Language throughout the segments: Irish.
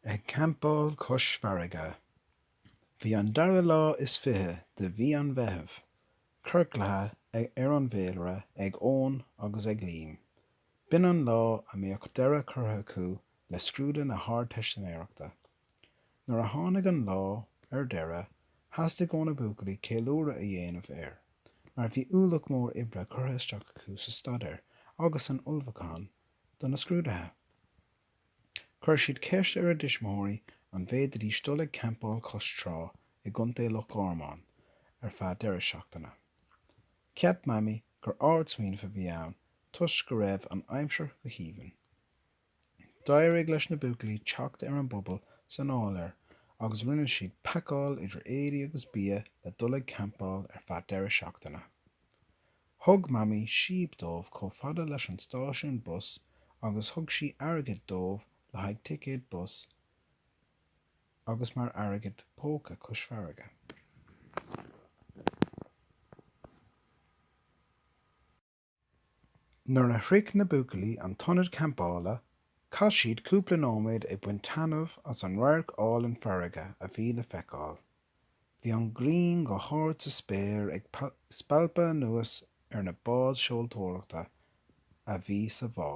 Ag campáil cois farraige. Bhí an dara lá is fiche de mhí an Mheithimh, ciorclaithe ar an bhféilire ag Eoin agus ag Liam. B'in an lá a mbeadh deireadh curtha acu le scrúdú na hArdteistiméireachta. Nuair a tháinig an lá, ar deireadh, theastaigh óna buachaillí ceiliúradh a dhéanamh air, mar bhí ualach mór oibre curtha isteach acu sa staidéar agus san ullmhúchán do na scrúduithe. Chuir siad ceist ar a dtuismitheoirí an bhféadaidís dul ag campáil cois trá i gContae Loch Garman ar feadh deireadh seachtaine. Cheap Mamaí gur ardsmaoineamh a bhí ann toisc go raibh an aimsir go haoibhinn. D'éirigh leis na buachaillí teacht ar an bpuball san áiléar agus rinne siad pacáil idir éadaí agus bia le dul ag campáil ar feadh deireadh seachtaine. Thug Mamaí síob dóibh chomh fada leis an stáisiún bus agus thug sí airgead dóibh le haghaidh ticéad bus agus mar airgead póca cois farraige. Nuair a shroich na buachaillí an t-ionad campála, chaith siad cúpla nóiméad ag baint taitneamh as an radharc álainn farraige a bhí le feiceáil. Bhí an ghrian go hard sa spéir ag spalpadh anuas ar na báid seoltóireachta a bhí sa bhá.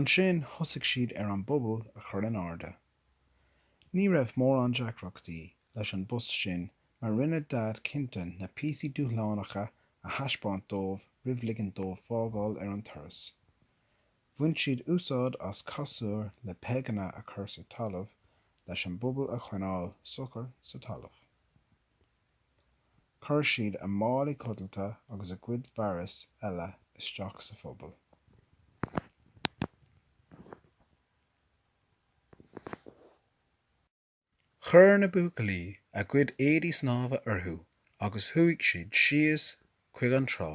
Ansin thosaigh siad ar an bpuball a chur in airde. Ní raibh mórán deacrachtaí leis an bpost sin mar rinne Daid cinnte na píosaí dúshlánacha a thaispeáint dóibh roimh ligint dóibh fágáil ar an turas. Bhain siad úsáid as casúr le peigeanna a chur sa talamh leis an bpuball a choinneáil socair sa talamh. Chuir siad a málaí codlata agus a gcuid fearas eile isteach sa phuball. Chuir na buachaillí a gcuid éadaí snámha orthu agus chuaigh siad síos chuig an trá.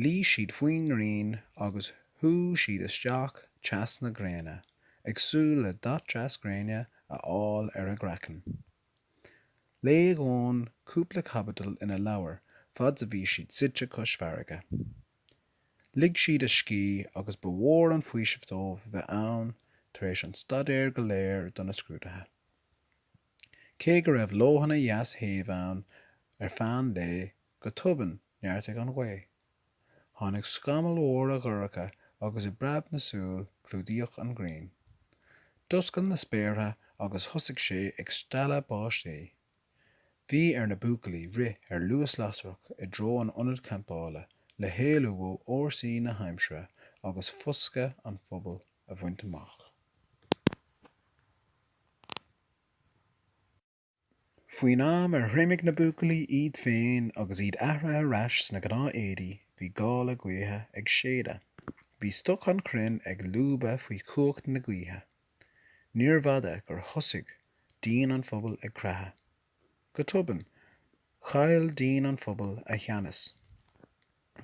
Luigh siad faoin ngrian agus shúigh siad isteach teas na gréine ag súil le dath deas gréine a fháil ar a gcraiceann. Léigh Eoin cúpla caibidil ina leabhar fad's a bhí siad suite cois farraige. Lig siad a scíth agus ba mhór an faoiseamh dóibh a bheith ann tar éis an staidéir go léir do na scrúduithe. Cé go raibh leoithne dheas shéimh ann ar feadh an lae, go tobann neartaigh an ghaoth. Tháinig scamaill mhóra dhorcha agus i bpreab na súl clúdaíodh an ghrian. D'oscail na spéartha agus thosaigh sé ag stealladh báistí. Bhí ar na buachaillí rith ar luas lasrach i dtreo an ionad campála le héalú ó fhórsaí na haimsire agus foscadh an phubaill a bhaint amach. Faoin am ar thriomaigh na buachaillí iad féin agus iad athraithe ar ais sna gnáth éadaí bhí gála gaoithe ag séideadh. Bhí stoc an chrainn ag lúbadh faoi chumhacht na gaoithe. Níorbh fhada gur thosaigh díon an phubaill ag creathadh. Go tobann, chaill díon an phubaill a theannas.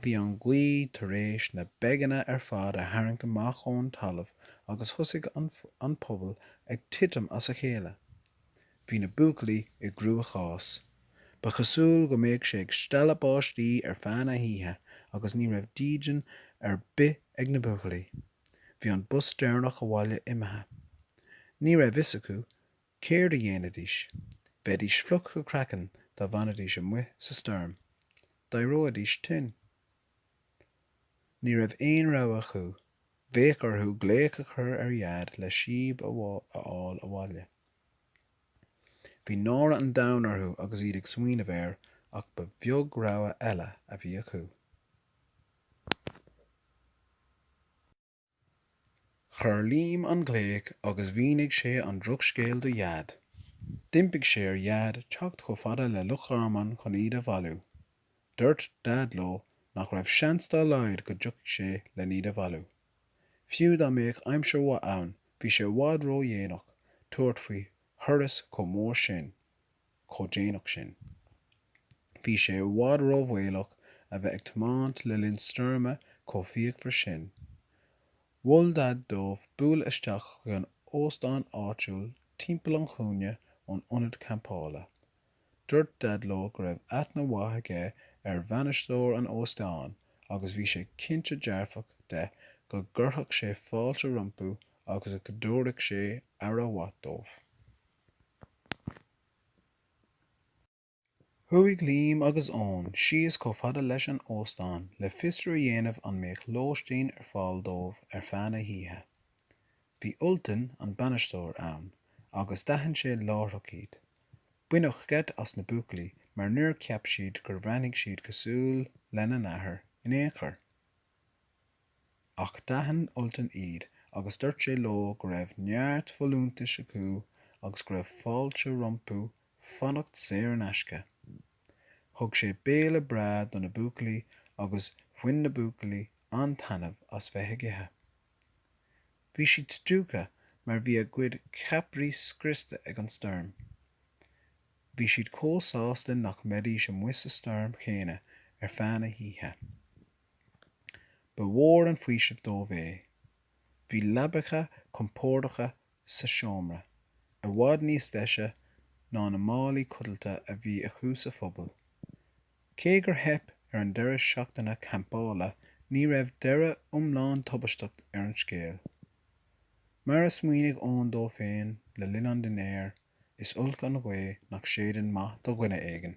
Bhí an ghaoth tar éis na peigeanna ar fad a tharraingt amach ón talamh agus thosaigh an puball ag titim as a chéile. Bhí na buachaillí i gcruachás. Ba chosúil go mbeadh sé ag stealladh báistí ar feadh na hoíche agus ní raibh dídean ar bith ag na buachaillí. Bhí an bus deireanach abhaile imithe. Ní raibh a fhios acu céard a dhéanfaidís. Bheidís fliuch go craiceann dá bhfanfaidís amuigh sa stoirm. D'éireoidís tinn. Ní raibh aon rogha acu. Bheadh orthu glaoch a chur ar Dhaid le síob a fháil abhaile. Bhí náire an domhain orthu agus iad ag smaoineamh air ach ba bheag rogha eile a bhí acu. Chuir Liam an glaoch agus mhínigh sé an drochscéal do Dhaid. D'impigh sé ar Dhaid teacht chomh fada le Loch Garman chun iad a bhailiú. Dúirt Daid leo nach raibh seans dá laghad go dtiocfadh sé lena n-iad a bhailiú. Fiú dá mbeadh aimsir mhaith ann bhí sé i bhfad ró dhéanach tabhairt faoi thuras chomh mór sin chomh déanach sin. Bhí sé i bhfad ró bhaolach a bheith ag tiomáint le linn stoirme chomh fíochmhar sin. Mhol Daid dóibh bualadh isteach chuig an óstán áitiúil timpeall an chúinne ón ionad campála. Dúirt Daid leo go raibh aithne mhaith aige ar bhainisteoir an óstáin agus bhí sé cinnte dearfach de go gcuirfeadh sé fáilte rompu agus go dtabharfadh sé aire mhaith dóibh. Chuaigh Liam agus Eoin síos chomh fada leis an óstán le fiosrú a dhéanamh an mbeadh lóistín ar fáil dóibh ar feadh na hoíche. Bhí Ultan, an bainisteoir, ann agus d'aithin sé láithreach iad. Baineadh geit as na buachaillí mar níor cheap siad gur bhreathnaigh siad cosúil lena n-athair in aon chor. Ach d'aithin Ultan iad agus dúirt sé leo go raibh neart folúntais acu agus go raibh fáilte rompu fanacht saor in aisce. Thug sé béile breá do na buachaillí agus bhain na buachaillí an-taitneamh as bheith ag ithe. Bhí siad stiúgtha mar bhí a gcuid ceapairí scriosta ag an stoirm. Bhí siad chomh sásta nach mbeidís amuigh sa stoirm chéanna ar feadh na hoíche. Ba mhór an faoiseamh dóibh é. Bhí leabacha compordacha sa seomra, i bhfad níos deise ná na málaí codlata a bhí acu sa phuball. Cé gur theip ar an deireadh seachtaine campála ní raibh deireadh iomlán tubaisteach ar an scéal. Mar a smaoinigh Eoin dó féin le linn an dinnéir, is olc an ghaoth nach séideann maith do dhuine éigin.